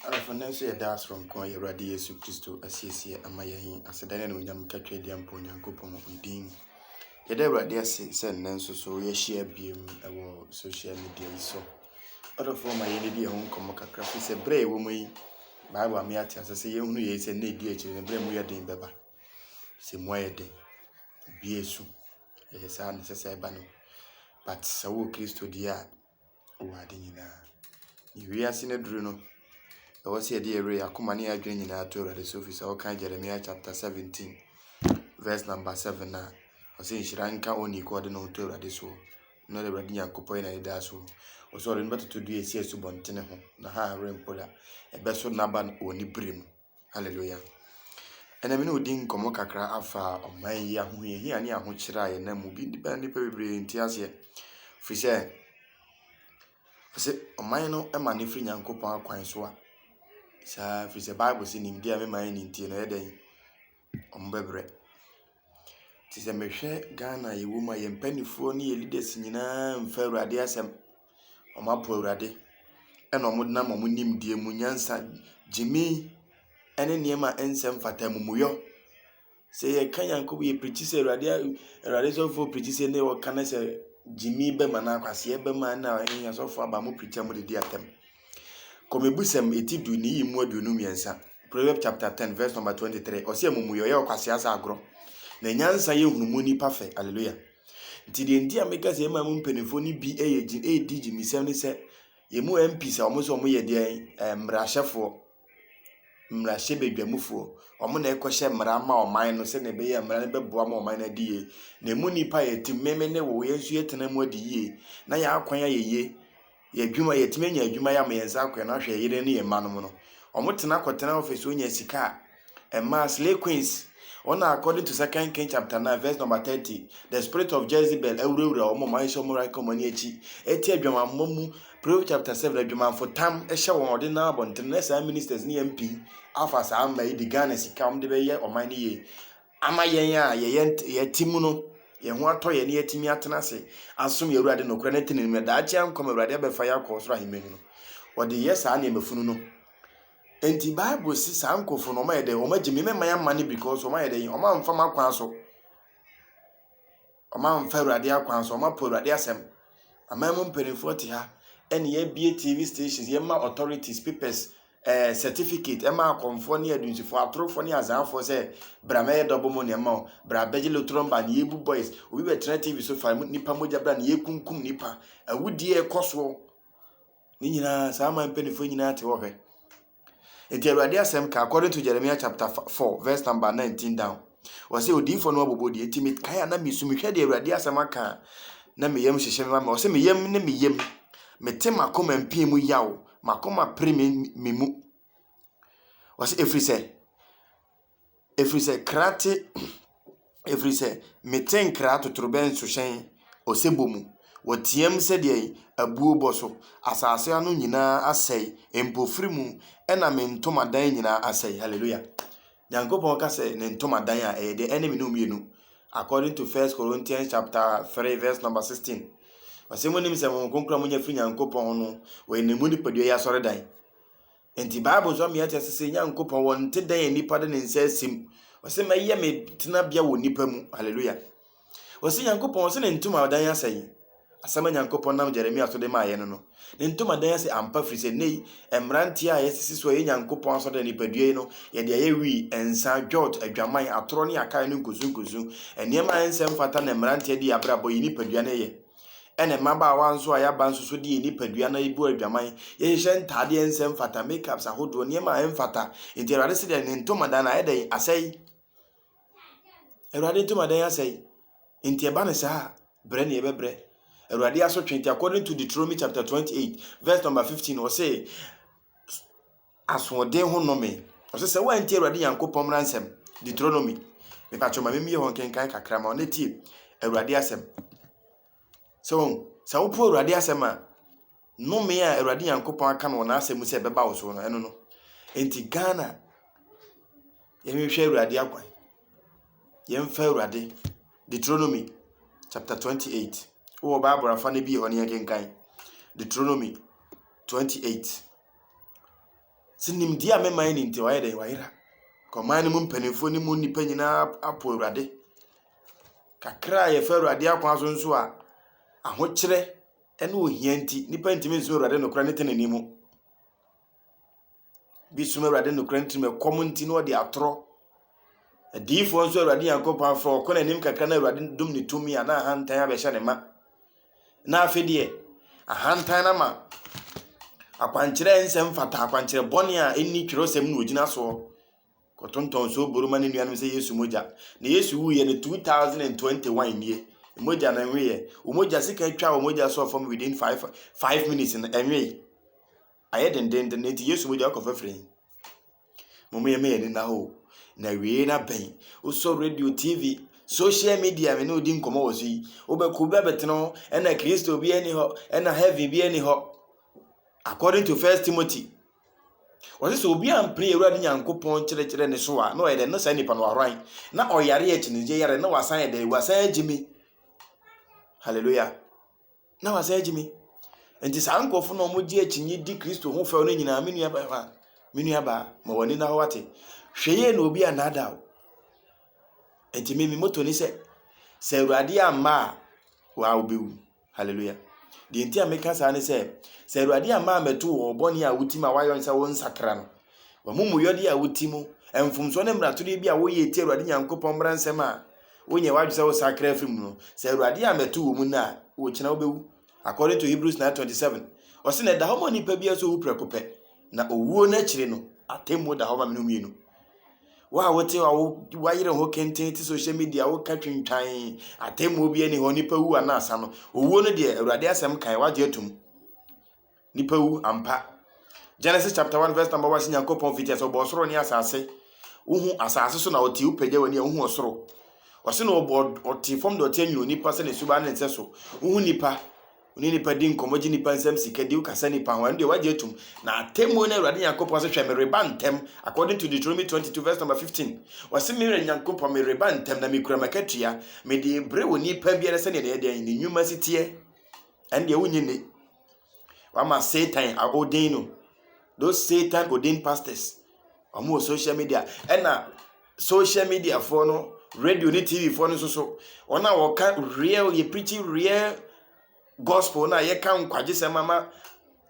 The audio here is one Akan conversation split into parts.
Adɔfo, nnɛ nso yɛ daa soronko a yɛ Awurade Yesu Kristo asiesie ama yɛn yi, aseda ne anuonyam nkatwadi mpa Onyankopɔn ne din. Yɛda Awurade ase sɛ nnɛ nso so yɛahyia biom wɔ social media yi so. Adɔfo, ma yɛn didi yɛn ho nkɔmmɔ kakra, fi sɛ berɛ a yɛwɔ mu yi, Bible ama yɛate ase sɛ yɛhunu yei sɛ nna ɛdi akyire no berɛ mu yɛ den bɛba. Sɛ mu ayɛ den, bie su, ɛyɛ saa na ɛsɛ sɛ ɛba no. But sɛ wowɔ Kristo deɛ a, wɔ ade nyinaa. Nea wiase no aduru no, ɛwɔ sɛ yɛde yɛn werɛ, yɛn akoma ne yɛn adwene nyinaa to Awurade so, firi sɛ wokan Jeremiah chapter 17 verse number 7 a, ɔsɛ nhyira nka onii kɔ ɔde ne ho to Awurade soɔ. Na ɔde Awurade Nyankopɔn yɛ n'anidaa soɔ. Ɔsɛ ɔde no bɛtoto dua esi asubɔntene ho, na ha rempo da. Ɛbɛso n'aba wɔ ne bere mu. Hallelujah. Ɛna me ne odi nkɔmmɔ kakra afa ɔman yi ahohiahia ne ahokyerɛ a yɛnam mu bi bɛn nnipa bebree nti aseɛ firi sɛ sɛ ɔman no ma ne firi nyankopɔn akwan so a saa firi sɛ bible sɛ nimdeɛ a mema yɛ ne ntie no ɛyɛ dɛn ɔmbɛbrɛ nti sɛ mehwɛ ghana yɛwɔ mu a yɛn mpanimfoɔ ne yɛ leaders nyinaa mfa awurade asɛm Wɔapo Awurade, ɛnna wɔnam wɔn nimdeɛ mu nyansa, gyimii ne nneɛma a ɛnsɛ mfata, amumuyɔ. Sɛ yɛka Nyankopɔn, yɛpirikyi sɛ Awurade Awurade sɔfoɔ pirikyi sɛ ne wɔka ne sɛ gyimii bɛm anaa akwaseɛ bɛm a ɛnna ɛnyɛ sɔfoɔ aba mo pirikyi a mode di atɛm. Kɔmibusɛm ɛti du ne yi mu aduonu mmiɛnsa. Proverbs chapter ten verse number twenty three. Ɔsɛ amumuyɔ yɛ ɔkwasea sɛ agorɔ. Na nyansa yɛ nhunumu nipa fɛ. Hallelujah. Nti deɛ nti a meka sɛ yɛma mu mpanimfoɔ no bi yɛ gye ɛredi gyimisɛm ne sɛ yɛn mu MPs a wɔn sɛ wɔn yɛ deɛ eh, mmarahyɛfoɔ mmarahyɛbadwamufoɔ wɔn na ɛkɔhyɛ mmara ma ɔman no sɛdeɛ ɛbɛyɛ mmara no bɛboa ma ɔman no adi yie na ɛmu nnipa yɛ te mmɛmɛ ne wo yɛn nso yɛtena mu adi yie na yɛn akwan ayɛ yie Yɛ adwuma, yɛatumi anya adwuma yɛ ama yɛn nsa akɔ yɛn ahwɛ yɛn yere ne yɛn mma nom no. Wɔn tena kɔtena office hɔ nya sika a, ɛmaa slay queens, wɔn a according to second king chapter 9 verse number 30, the spirit of Jezebel awurawura wɔn, wɔn ayɛ sɛ wɔn reka wɔn ani akyi, ɛte adwamanmmɔ mu, Proverbs chapter 7, adwamanfo tam hyɛ wɔn ɔde nam abɔnten, na saa ministers ne MP afa saa mma yi de Ghana sika wɔn de bɛyɛ ɔman no yie. ama yɛn a yɛyɛ yɛte mu no, yɛn ho atɔ yɛn na yɛatumi atena ase asom yɛn Awurade nokorɛ ne tenenee mu na daakye ankɔm Awurade abɛfa yɛn akɔ ɔsoro ahemman mu no, wɔde yɛ saa nneɛma funu no. Enti Bible se saa nkurɔfoɔ no wɔayɛ dɛn? Wɔagye me, mɛma yɛamane because wɔayɛ dɛn? Wɔamfa m'akwan so. Wɔamfa Awurade akwan so, wɔapo Awurade asɛm. Aman mu mpanimfoɔ te ha ɛne yɛabie TV stations, yɛma authorities papers, eh, certificate, ɛma akɔmfoɔ ne adunsifoɔ, atorofoɔ ne azaafoɔ sɛ bra mɛyɛ double money ɛma wo, bra bɛgye lotron ba ne yɛbu boys, obi bɛtena TV so fa nipa mogya bra ne yɛkunkum nipa, awudie ɛkɔ soɔ. Ne nyinaa saa aman mpanimfoɔ nyinaa te hɔ hwɛ. Enti Awurade asɛm ka, according to Jeremiah chapter 4 verse number 19 down. Ɔsɛ odiyifoɔ no abobɔ die. Enti mekae a na mesu, mehwɛ deɛ Awurade asɛm aka a, na me yam hyehye me ma me. Ɔsɛ me yam ne me yam. Mete m'akoma mpii mu yaw, m'akoma pere me, me mu. Ɔsɛ ɛfiri sɛ, ɛfiri sɛ kra te, ɛfiri sɛ mete nkra totorobɛnto hyɛn osebɔ mu. Wɔteam sɛdeɛ abuo bɔ so, asase ano nyinaa asɛe, mpofiri mu na me ntomadan nyinaa asɛe. Hallelujah. Nyankopɔn ka sɛ ne ntomadan a ɛyɛ deɛ ɛne me no mmienu. According to First Corinthians chapter 3 verse number 16. Ɔsɛ mu nim sɛ wɔn kronkron a monya firi Nyankopɔn no, wɔyɛ ne mu nipadua yɛ asɔredan. Enti Bible nso ama yɛate ase sɛ Nyankopɔn wɔnte dɛn a nipa de ne nsa asi mu. Ɔsɛ mɛyɛ me tenabea wɔ nipa mu. Hallelujah. Ɔsɛ Nyankopɔn ɔsɛ ne ntomadan asɛ yi. Asɛm a Nyankopɔn nam Jeremia so de maa yɛn no no. Ne ntomadan asɛ ampa firi sɛ nnɛ yi mmeranteɛ a yɛsisi so a ɛyɛ Nyankopɔn asɔre nipadua yi no yɛde ayɛ wii, nsa, dwot, adwaman, atorɔ ne akae no nkusunkusu. Nneɛma a ɛnsɛ mfata na mmeranteɛ de abrabɔ yi nipadua no yɛ. Ɛna mmabaawa nso a yɛaba nso so de yɛn nipadua na ebu adwaman. Yɛhyehyɛ ntaadeɛ a ɛnsɛ mfata, makeups ahodoɔ, nneɛma a ɛmfata. Nti Awurade se dɛn? Ne ntomadan ayɛ dɛn? Asɛe. Awurade ntomadan asɛe. Nti ɛba ne saa a, brɛ ne yɛbɛbrɛ. Awurade asotwe nti according to Deuteronomy chapter 28 verse number 15 ɔse Asoɔden ho nnome. Ɔse sɛ woantie Awurade Nyankopɔn mmara nsɛm, Deuteronomy, mepakyɛw ma memmie hɔ nkenkan kakra ma wo na tie Awurade asɛm. Sɛ wɔn, sɛ wopo Awurade asɛm a, nnome a Awurade Nyankopɔn aka no wɔ n'asɛm mu sɛ ɛbɛba wo so no, ɛno no. Enti Ghana, yɛnhwehwɛ Awurade akwan. Yɛmfa Awurade. Deuteronomy chapter 28. Wowɔ Bible afa no bi yɛ hɔ no yɛnkenkan. Deuteronomy 28. Sɛ nimdeɛ a me man ni nti wayɛ dɛn? Wayera. Ɔman no mu mpanimfoɔ no mu nnipa nyinaa apo Awurade. Kakra a yɛfa Awurade akwan so nso a, ahokyerɛ ne ohia nti, nnipa ntumi nsom Awurade nokorɛ ne tenenee mu. Bi som Awurade nokorɛ ntirim ɛkɔm nti na ɔde atorɔ. Adiyifoɔ nso Awurade Nyankopɔn afrɛ ɔkɔ n'anim kakra na Awurade dom ne tumi a na ahantan abɛhyɛ ne ma. Na afei deɛ, ahantan no ama akwankyerɛ nsɛm fata akwankyerɛ bɔne a ɛnni twerɛsɛm na ɔgyina soɔ kɔtontɔn so boro ma ne nuanom sɛ Yesu mogya. Na Yesu wuiɛ no 2021 nie. Mogya no ɛnweeɛ. Wɔn mogya sika twa wɔn mogya so fam within five five minutes no ɛnwee. Ayɛ dendennden, enti Yesu mogya akɔ fafiri he. Mom yɛmma yɛn ani nna hɔ o, na awiei no abɛn. Wosɔ radio, TV, social media me ne wo di nkɔmmɔ wɔ so yi, wobɛkɔ obi abɛtene ho, ɛna Kristo biara nni hɔ, ɛna heaven biara nni hɔ. According to First Timothy, wɔse sɛ obi ampere Awurade Nyankopɔn nkyerɛkyerɛ ne so a, na ɔyɛ dɛn? Na saa nipa no wahoran, na ɔyare akyinigye yare, na wasan yɛ dɛn? Wasan agyimi. Hallelujah. na wasan agye me nti saa nkurɔfo na wɔgye akyinnye di kristo ho fɛw no nyinaa me nua bɛma me nua baa ma w'ani na wate hwɛ yie na obi annaada wo nti me me moto ne sɛ sɛ awurade amma a waa wobɛwu hallelujah deɛ nti a meka saa ne sɛ sɛ awurade amma a mɛto wɔ ɔbɔne a woti ma woayɔ ne sɛ wo nsakra no wamumuyɔdeɛ a woti mu mfomsoɔ ne mmaratodeɛ bi a woyɛ ti awurade nyankopɔn mmara nsɛm a Wonyɛ w'adwene sɛ wosakra afiri mu no, sɛ Awurade yɛ a mɛto wɔ mu nnɛ a, wokyena wobɛwu. According to Hebrews 9:27, ɔse na ɛda hɔ ma onipa biara sɛ owu prɛko pɛ, na owuo no akyire no, atemmuo da hɔ ma mene mmienu. Wo a wote hɔ a woayere ho kenten te social media woka twintwan atemmuo bi ani hɔ, nipa wu anaa sa no, owuo no deɛ Awurade asɛm kae, wagye atum. Nnipa wu ampa. Genesis chapter 1 verse number 1 sɛ Nyankopɔn fiti sɛ ɔbɔɔ soro ne asase. Wohu asase so na ɔte wopagya w'ani a wohu ɔsoro. Ɔse na ɔbɔ ɔte fam de ɔte anwene nipa sɛ ne suba ne nsɛ so. Wohu nipa. Wone nipa di nkɔmmɔ gye nipa nsɛm sika di wokasa nipa ho ɛno deɛ wagye atum. Na atemmuo no Awurade Nyankopɔn sɛ hwɛ mereba ntɛm according to Deuteronomy 22 verse number 15. Wɔse merɛ Nyankopɔn mereba ntɛm na mekura m'akatua mede bere wo nipa biara sɛdeɛ ne ɛdeɛ ne nnwuma si teɛ. ɛndeɛ wonye nni. Wama Satan odin no. Those Satan odin pastors. Wɔn wɔ social media. Ɛna social media foɔ no, radio ne TV foɔ no nso so. Wɔn a wɔka real, yɛ preaching real gospel no a yɛka nkwagyesɛm ama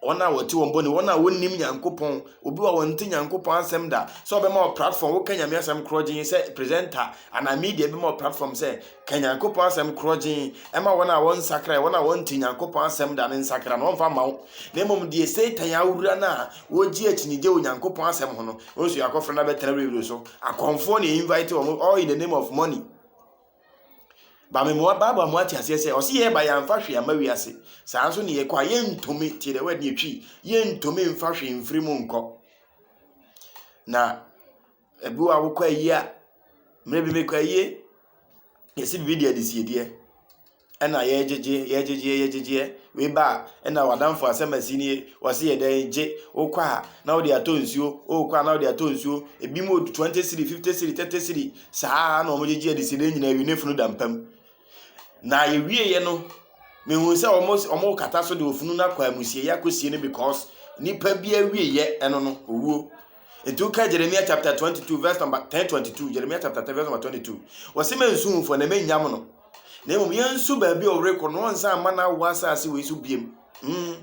wɔn a wɔte wɔn bɔne, wɔn a wɔnnim Nyankopɔn, obi a wɔnte Nyankopɔn asɛm da, sɛ ɔbɛma wɔ platform, woka Nyame asɛm korɔgyen sɛ presenter anaa media bi ma wɔ platform sɛ ka Nyankopɔn asɛm korɔgyen ɛma wɔn a wɔnsakra, wɔn a wɔnte Nyankopɔn asɛm da no nsakra no, wɔmfa ma wo. Na mmom deɛ Satan awura no a wɔgye akyinigye wɔ Nyankopɔn asɛm ho no, wɔn nso yɛakɔfrɛ no abɛtena radio so. Akɔmfoɔ na invite wɔn all in the name of money. Ba me moa Bible mo ate aseɛ sɛ ɔse yɛba yɛamfa hwee ama wiase. Saa nso ne yɛkɔ a yɛntumi tie the word ne yɛtwi yɛntumi mfa hwee mfiri mu nkɔ. Na ebi wɔ a wokɔ ayie a mmerɛ bi mekɔ ayie yɛsi biribi deɛ de siedeɛ. ɛna yɛgyegyeɛ yɛgyegyeɛ yɛgyegyeɛ wei ba a ɛna w'adamfo asɛm asi nie wɔsi yɛ dɛn gye wokɔ a na wode atɔ nsuo wokɔ a na wode atɔ nsuo ebi mu odu twenty siri fifty siri thirty siri saa na wɔn gyegye adeside nyinaa ewi ne funu da mpam na ewie yɛ no mehu sɛ wɔn wɔn kata so de ofunu no akɔ amusie yɛ akɔsie no because nipa bi awie yɛ ɛno no owuo. Nti woka Jeremia chapter 22 verse number 1022 Jeremia chapter 10 verse number 22 wɔsi mɛ nsu nfɔ na mɛ nyam no na mmom yɛnsu baabi a ɔrekɔ na ɔnsan mma n'awoɔ asase wei so biem hmm.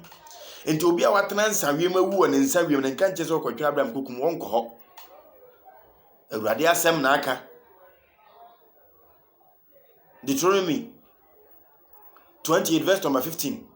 nti obi a watena nsa wiem awu wɔ ne nsa wiem na nka nkyɛ sɛ ɔkɔtwa abraham kokum wɔnkɔ hɔ awurade asɛm na aka deuteronomy 28 verse number 15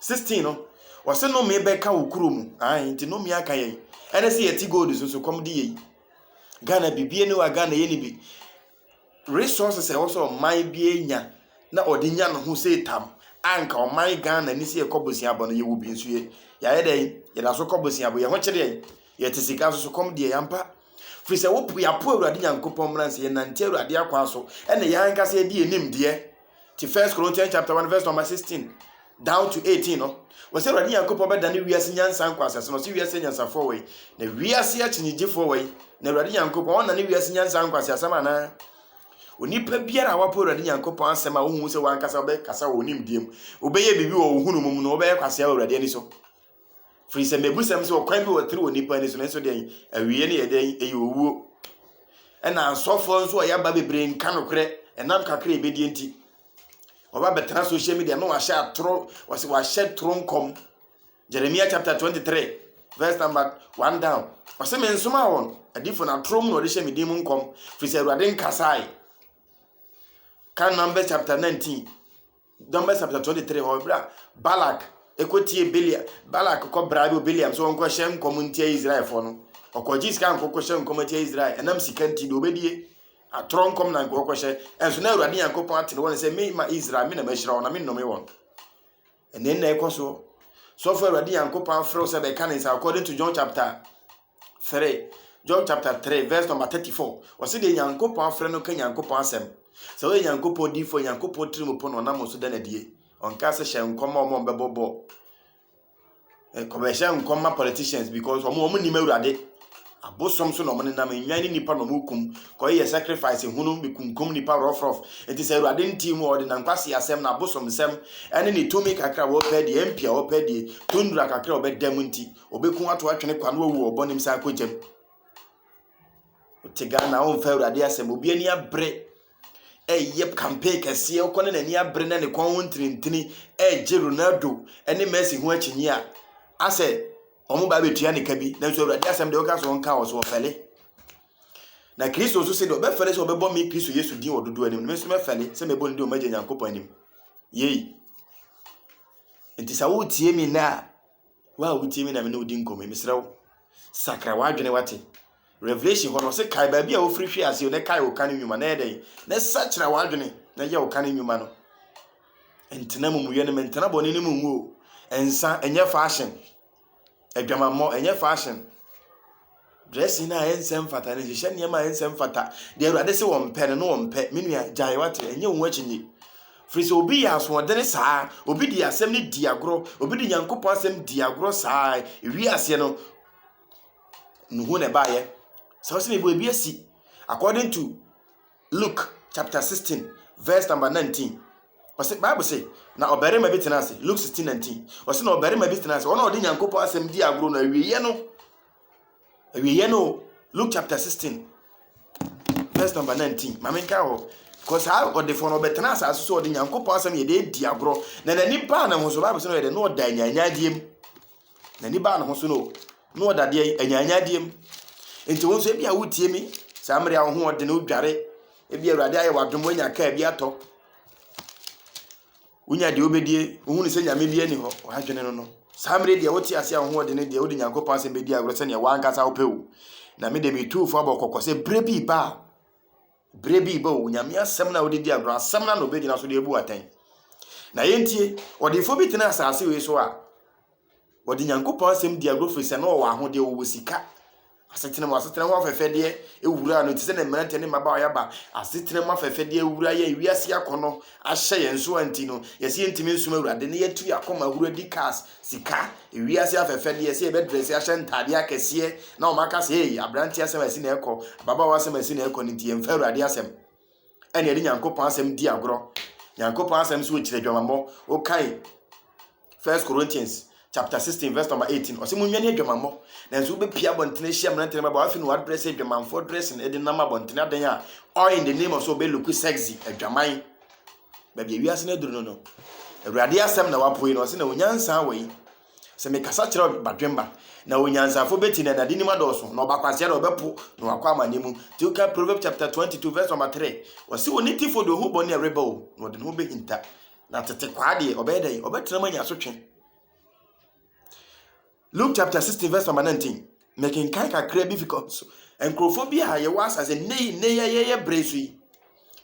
16 no wɔse nome bɛka wo kuro mu ae nti nome aka yɛn ɛne se yɛte gold so so kɔm de yɛyi Ghana bibie ne wa Ghana yɛ ne bi resources ɛwɔ sɛ ɔman bi anya na ɔde nya ne ho sɛ tam anka ɔman Ghana ni sɛ yɛkɔ boseabɔ no yɛwɔ bi nso yɛ yɛayɛ dɛ yɛda so kɔ boseabɔ yɛ ho kyerɛ yɛn yɛte sika so so kɔm deɛ yɛampa firi sɛ wopo yɛapo awurade nyankopɔn mmara nsɛ yɛnante awurade akwan so ɛne yɛn ankasa yɛde yɛnim deɛ Te First Corinthians chapter 1 verse number 16 down to 18 no, wɔ sɛ Awurade Nyankopɔn bɛdane wiase nyansa nkɔ asase no, ɔse wiase nyansafoɔ wɔ yi, na wiase akyinnyegyefoɔ wɔ yi, na Awurade Nyankopɔn ɔnane wiase nyansa nkɔ ase asɛm anaa? Onipa biara a wapo Awurade Nyankopɔn asɛm a wohu sɛ wankasa wobɛkasa wɔ onimdeɛ mu, wobɛyɛ biribi wɔ wo hunu mu no, wobɛyɛ kwasea wɔ Awurade ani so. Firi sɛ mebusɛm sɛ ɔkwan bi wɔ tiri wɔ nnipa ani so no nso dɛn awieɛ no yɛ dɛn ɛyɛ owuo. Ɛna asɔfoɔ nso a yɛaba bebree nka nokorɛ ɛnam kakra ɛbɛdie nti. Wɔba bɛtena social media ma wahyɛ atoro wɔsɛ wahyɛ toro nkɔm. Jeremia chapter 23 verse number 1 down. Ɔsɛ me nsoma wɔn adifo na atoro mu na ɔde hyɛ me din mu nkɔm firi sɛ awurade nkasae. Ka Numbers chapter 19 Numbers chapter twenty three hɔ ebere a Balak ekotie Belial Balak kɔ bra bi Belial so ɔnkɔ hyɛ nkɔm ntia Israelfoɔ no ɔkɔ gye sika nkɔ kɔ hyɛ nkɔm atia Israel ɛnam sika nti deɛ ɔbɛdie atorɔ nkɔm na nkɔ kɔ hyɛ ɛnso na Awurade Nyankopɔn ate ne wɔn sɛ me ma Israel me na mahyira wɔn na me nnome wɔn ɛnɛ nna ɛkɔ soɔ sɔfo Awurade Nyankopɔn afrɛ wo sɛ bɛka ne nsa according to John chapter 3. John chapter 3 verse number 34. Ɔse deɛ Nyankopɔn afrɛ no ka Nyankopɔn asɛm. Sɛ ɔyɛ Nyankopɔn diifoɔ, Nyankopɔn tiri mu po no ɔnam so da no adie. Ɔnka sɛ hyɛ nkɔm ma wɔn a wɔbɛbɔ bɔ. Nkɔbɛhyɛ nkɔm ma politicians because wɔn wɔn nim awurade. Abosom so na wɔn nenam nnwan ne nipa na wɔn kum. Kɔyɛ sacrifice hunu bi kunkum nipa rɔfrɔf. Nti sɛ awurade nti mu ɔde nankwasi asɛm na abosom nsɛm ɛne ne tumi kakra wɔpɛ die, MP a wɔpɛ die, tundra kakra wɔbɛda mu nti. Obeku ato atwene kwa na wawu ɔbɔ ne nsa akɔ gyam. Wote Ghana womfa Awurade asɛm obi ani abere ɛyɛ campaign kɛseɛ wokɔ ne n'ani abere na ne kɔn ho ntinintini ɛregye Ronaldo ne Messi ho akyinyi a asɛ wɔn ba bɛtua ne ka bi nanso Awurade asɛm deɛ woka so nka wɔ so wɔfɛle na Kristo nso sɛ deɛ ɔbɛfɛle sɛ ɔbɛbɔ me Kristo Yesu din wɔ dodoɔ anim no me nso mɛfɛle sɛ mɛbɔ ne din ɔmagya Nyankopɔn anim yei nti sɛ wotie me na Wo a wotie me na me ne wo di nkɔmmɔ yi, mesrɛ wo, sakra w'adwene wate. Revelation hɔ no, ɔse kae baabi a wofiri hwee aseɛ na kae wo kan nnwuma na yɛ dɛn? Na sakyera w'adwene na yɛ wo kan nnwuma no. Ntena mumuyɛ no mu, ntena bɔne no mu ngu o. Nsa, ɛnyɛ fashion. Adwamammɔ, ɛnyɛ fashion. Dressing a ɛnsɛ mfata no hyehyɛ nneɛma a ɛnsɛ mfata. Deɛ Awurade se wɔmpɛ no na wɔmpɛ. Me nua gyae wate ɛnyɛ wo ho akyinnye. Firi sɛ obi yɛ asoɔdene saa, obi di asɛm no di agorɔ, obi di Nyankopɔn asɛm di agorɔ saa, ewi aseɛ no, nuhu na ɛbaeɛ. Sɛ wo sɛ mebɔ ebi asi according to Luke chapter sixteen verse number nineteen. Ɔsɛ Bible sɛ na ɔbarima bi tena ase. Luke sixteen nineteen. Ɔsɛ na ɔbarima bi tena ase. Ɔno a ɔde Nyankopɔn asɛm di agorɔ no awieɛ no. Awieɛ no Luke chapter sixteen verse number nineteen. Maame nka hɔ. Kɔ saa ɔdefoɔ no ɔbɛtena asase so ɔde Nyankopɔn asɛm yɛ de adi agorɔ. Na n'ani baa ne ho so Bible sɛ no yɛ dɛ na ɔda anyanyadeɛ mu. N'ani baa ne ho so no, na ɔda adeɛ anyaanyaadeɛ mu. Nti wo nso ebi a wotie mi saa mmere a wo ho ɔdene wodware ebi awurade ayɛ w'adom woanya kaa bi atɔ wonya deɛ wobɛdie wohunu sɛ nyame bi ani hɔ ɔadwene no no saa mmere deɛ wote ase a wo ho ɔdene deɛ wode nyankopɔn asɛm bɛdi agorɔ sɛdeɛ wankasa wopɛ o na mede metuufo abɔ kɔkɔ sɛ berɛ bi ba a Berɛ bi reba o, Nyame asɛm no a wode di agorɔ, asɛm no na ɔbɛgyina so de abu atɛn. Na yɛntie, ɔdefoɔ bi tena asase wei so a, ɔde Nyankopɔn asɛm di agorɔ firi sɛ na ɔwɔ ahodeɛ, ɔwɔ sika, asetena mu, asetena ho afɛfɛdeɛ awura no te sɛ ne mmeranteɛ ne mmabaawa yɛaba, asetena mu afɛfɛdeɛ awura yɛn, wiase akɔnɔ ahyɛ yɛn so a nti no, yɛsɛ yɛntumi nsom Awurade na yɛatu yɛn akoma ahuro adi cars, sika, wiase afɛfɛdeɛ, sɛ yɛbɛdrɛse ahyɛ ntaadeɛ akɛseɛ na wɔn aka sɛ ei aberanteɛ asɛm asi na ɛkɔ ababaawa asɛm asi na ɛkɔ no nti yɛmfa awurade asɛm ɛne ɛde nyankopɔn asɛm di agorɔ nyankopɔn asɛm sɛ ɔkyerɛ adwamammɔ wokae first corinthians chapter 16 verse number 18 ɔsɛ monwane adwamammɔ nanso wobɛpia abɔntene ahyia mmerantene baba wafe no wadrɛ sɛ adwamanfoɔ dressing ɛde nam abɔntene adɛn a all in the name of so ɔbɛluku sexy adwaman baabi a wiase no aduru no no, Awurade asɛm na wapoe no, ɔse na onyansaa wɔ yi. Sɛ mekasa kyerɛ badwemba, na onyansafo beti na n'ade nim adɔɔso, na ɔbakwasea na ɔbɛpo na wakɔ amane mu. Nti woka Proverbs chapter 22 verse number 3, ɔse wɔ ne tifo de ohu bɔne a ɛreba o, na ɔde ne ho behinta. Na tete kwaa deɛ, ɔbɛyɛ dɛn? Ɔbɛtena mu anya asotwe. Luke chapter 16 verse number 19. Mekenkan kakra bi because nkurɔfoɔ bi a yɛwɔ asase nnɛ yi nnɛ yi yɛyɛ bere so yi.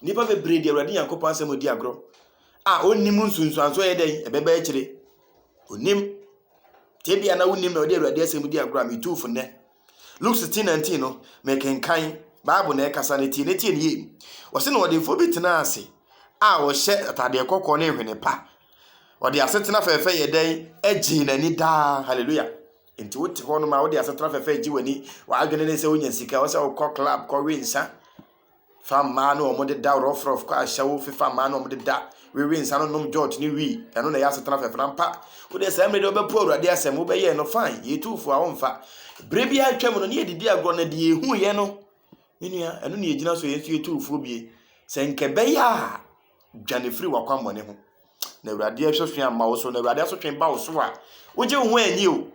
Nnipa bebree de Awurade Nyankopɔn asɛm odi agorɔ a ɔnni mu nsunsuanso ɛyɛ dɛn ɛbɛba akyire. Ɔnim. Tebea na wonim na ɔde Awurade asɛm di agorɔ a metu fo nnɛ. Luke 16 19 no mekenkan Bible na ɛkasa no tie ne tie ne yie. Ɔse na ɔdefoɔ bi tenaa ase a ɔhyɛ atadeɛ kɔkɔɔ ne nhwene pa Ɔde asetena fɛfɛ yɛ dɛn? Egye n'ani daa. Hallelujah. Nti wote hɔ nom a wode asetena fɛfɛ egye w'ani. W'adwene ne sɛ wonya sika, ɔsɛ wokɔ club kɔwe nsa. Fa mmaa no wɔn de da rɔfrɔf kɔ ahyɛwo, fifa mmaa no wɔn de da. Wewe nsa no nom jot ne wii. Ɛno na ɛyɛ asetena fɛfɛ na mpa. Wode saa mmiri de wobɛpo awurade asɛm wobɛyɛ no fine. Yɛtu fo a womfa. Bere bi atwa mu no ne yɛdidi agorɔ na deɛ ehu yɛ no. Menua, ɛno ne yɛgyina so yɛn nso yɛtu fo bie. Sɛ nkɛbɛyɛ a Dwane firi w'akwammɔne ho, na Awurade asotwe amma wo so. Na Awurade asotwe ba wo so a, wogye wo ho anni o.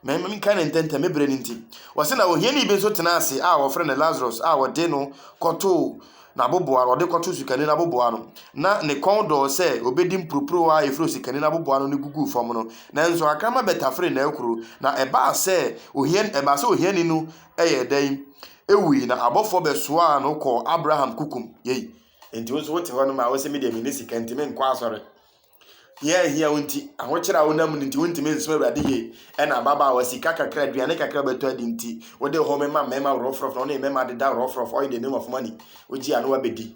Na mmom nka ne ntɛntɛm, me berɛ no nti. Wɔse na ohiani bi nso tenaa ase a wɔfrɛ no Lazarus a wɔde no kɔtoo n'aboboa no, wɔde kɔtoo osikani no aboboa no. Na ne kɔn dɔɔ sɛ obɛdi mporoporowa a ɛfiri osikani no aboboa no no guguu fam no. Nanso akrama bɛtaferee n'akuro, na ɛbaa sɛ ohiani, ɛbaa sɛ ohiani no yɛɛ dɛn? Ɛwui, na abɔfoɔ bɛsoaa no kɔɔ Abraham kukum. Yei. Enti wo nso wote hɔ no ma wose me deɛ menni sika nti menkɔ asɔre. Hia a ehia wo nti, ahokyere a wonam no nti wontumi nsom Awurade yie. Ɛna ababaawa sika kakra, aduane kakra a wobɛtɔ adi nti wode home ma mmarima worɔfrɔf na wo ne mmarima deda worɔfrɔf, oil the name of money. Wogye a na wabɛdi.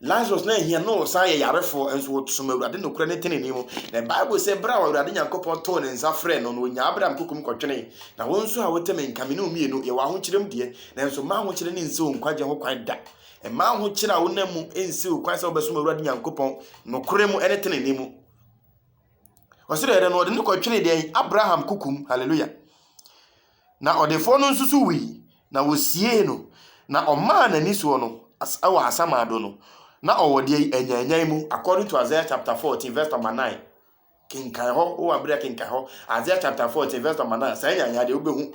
Lazarus na ahia na ɔsan yɛ yarefoɔ nso wɔsom Awurade nokorɛ ne tenenee mu. Na Bible sɛ berɛ a Awurade Nyankopɔn too ne nsa frɛɛ no no ɔnyaa Abraham kokom kɔtwenee. Na wo nso a wote me nka me ne wo mmienu yɛwɔ ahokyerem deɛ, nanso mma ahokyere no nsi wo nkwagye ho kwan da. Mma ahokyere a wonam mu nsiw kwan sɛ wobɛsom Awurade Nyankopɔn nokorɛ mu ne tenenee mu. Ɔsɛ dɛ no ɔde ne kɔtwene deɛ Abraham kukum. Hallelujah. Na ɔdefoɔ no nso so wui, na wɔsiee no, na ɔmaa n'ani soɔ no wɔ asamado no, na ɔwɔ deɛ yi anyanyan mu, according to Isaiah chapter 14 verse number 9. Kenkan hɔ, wowɔ abere a kenkan hɔ. Isaiah chapter 14 verse number 9, saa nyanyan deɛ wobɛhu.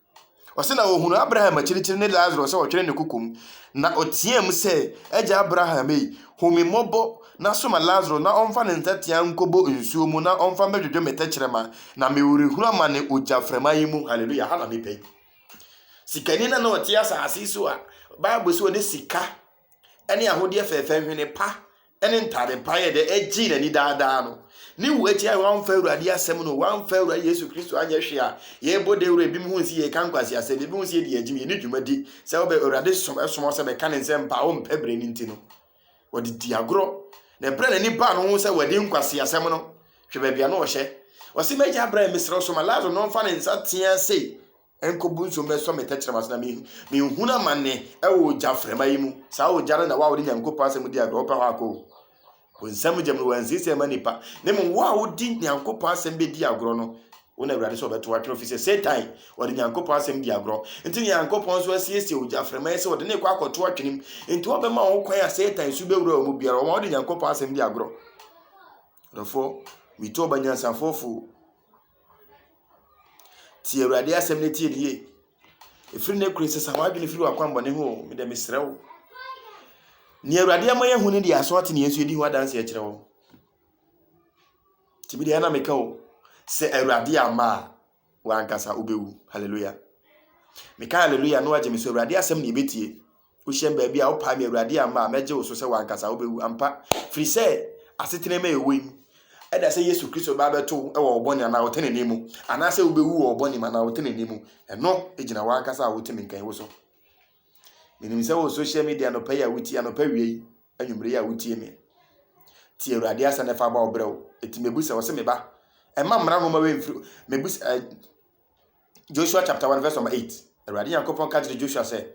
Ɔse na ɔhunuu Abraham akyirikyiri ne Lasaro sɛ ɔtwere ne koko mu, na ɔteaam sɛ, Agya Abraham ei, hu me mmɔbɔ na soma Lasaro na ɔmfa ne nsateaa nkɔbɔ nsuo mu na ɔmfa mmɛdwodwo me tɛkyerɛma, na mewerehunu amane ogyaframa yi mu. Hallelujah! Ha na mepɛ yi. Sikani na na ɔte asase so a Bible sɛ ɔde sika ne ahodeɛ fɛɛfɛ, nhwene pa, ne ntade pa yɛ dɛ gyee n'ani daa daa no. Ne wu akyi a wɔamfa Awurade asɛm no, wɔamfa Awurade Yesu Kristo anyɛ hwee a, yɛbɔ dawuru a ebinom hu sɛ yɛreka nkwaseasɛm, ebinom hu sɛ yɛdi agyim, yɛne dwumadi sɛ wɔbɛ Awurade som ɛsom wɔn sɛ bɛka ne nsɛmpa a wɔmpɛ bere no nti no, wɔde di agorɔ. Na ɛberɛ a n'ani baa no ho sɛ wɔadi nkwaseasɛm no, hwɛ baabi a na ɔhyɛ. Ɔse, m'agya brɛɛ me serɛ so ma Lasaro na ɔmfa ne nsa teaa sei. Nkobu nso mmɛsɔ me tɛkyerɛma so na me menhunu amane ɛwɔ ogya frɛma yi mu. Saa ogya no na wo a wode Nyankopɔn asɛm di agorɔ wopɛ hɔ akɔ o. Wo nsam gyam no wɔansiesie ɛma nipa. Na mmom wo a wodi Nyankopɔn asɛm bɛdi agorɔ no, wo na Awurade sɛ ɔbɛto atwene ofi sɛ Satan ɔde Nyankopɔn asɛm di agorɔ. Nti Nyankopɔn nso asiesie ogya frɛma yi sɛ ɔde ne kɔ akɔto atwene mu. Nti ɔbɛma wɔn kwan a Satan su bɛwura wɔn mu biara. Wɔma wode Nyankopɔn asɛm di agorɔ. Dɔfoɔ, metu ɔba nyansafoɔ fo. Tie Awurade asɛm na tie no yie. Ɛfiri ne kure sesa w'adwene firi w'akwammɔne ho o, medɛ mesrɛ wo. Nea Awurade ama yɛahu no deɛ aso ate ne yɛn so yɛdi ho adanse akyerɛ wo. Nti medeɛ na meka o, sɛ Awurade amma a, wankasa wobɛwu. Hallelujah. Meka hallelujah na wagye me so Awurade asɛm na yɛbɛtie. Wohyɛn baabi a wopae me, Awurade, amma a, mɛgye wo so sɛ w'ankasa wobɛwu ampa, firi sɛ asetena mu a yɛwɔ yi, ɛda sɛ Yesu Kristo bɛba abɛto wo wɔ wo bɔne anaa wo tenenee mu, anaasɛ wobɛwu wɔ wo bɔne mu anaa wo tenenee mu. Ɛno gyina w'ankasa a wote me nka yi wo so. Menim sɛ wo social media anɔpa yi a wotie, anɔpa awia yi, anwummere yi a wotie me. Tie Awurade asɛm na fa bɔ wo berɛ o. Ɛti mɛbu sɛ, ɔse me ba, ɛmma mmara nwoma wei mfiri, mɛbu sɛ, Joshua chapter 1 verse number 8. Awurade Nyankopɔn ka kyerɛ Joshua sɛ,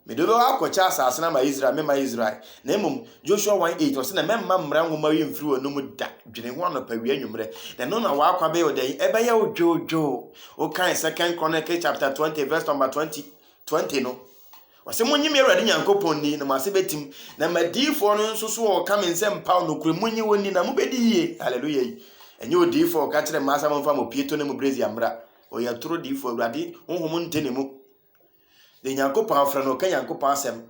Mede wobɛwɔ akɔkyɛ asase no ama Israel, memma Israel. Na mmom, Joshua 1 8, ɔsɛ na mɛmma mmara nwoma yi mfiri w'anom da, dwene ho anɔpa wia nwummerɛ, na ɛno na w'akwa bɛyɛ ɔdɛn? Ɛbɛyɛ wo dwoodwoo. Wokae Second Chronicle chapter 20 verse number 20, 20 no. Ɔse monye me Awurade Nyankopɔn nni na mo ase bɛtim, na m'adiyifoɔ no nso so wɔka me nsɛm paw nokorɛ, monye wɔn nni na mobɛdi yie. Hallelujah yi, ɛnyɛ odiyifoɔ a ɔka kyerɛ mmaa sɛ momfa mo pieto ne mo brazier mmra. Ɔyɛ atoro diyifoɔ, Awurade honhom nte ne mu. Deɛ Nyankopɔn afrɛ no, ɔka Nyankopɔn asɛm.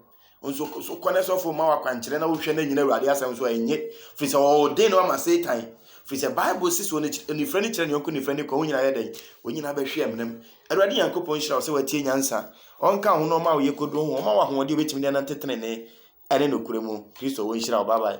Nso so kɔ ne sɔfo ma wakwankyerɛ na wohwɛ no anyina Awurade asɛm so a ɛnye, firi sɛ ɔɔden no ama Satan. Firi sɛ Bible se sɛ onifirani kyerɛ ne yɔnko nifirani kwan, wɔn nyinaa yɛ dɛn? Wɔn nyinaa bɛhwe amena mu. Awurade Nyankopɔn nhyira wo sɛ woatie nyansa. Ɔnka wo ho na ɔma wo yɛ kodoɔ ho. Ɔma wo ahoɔden a wobɛtumi de anante tenenee ne nokorɛ mu. Kristo, ɔnhyira wo. Bye bye.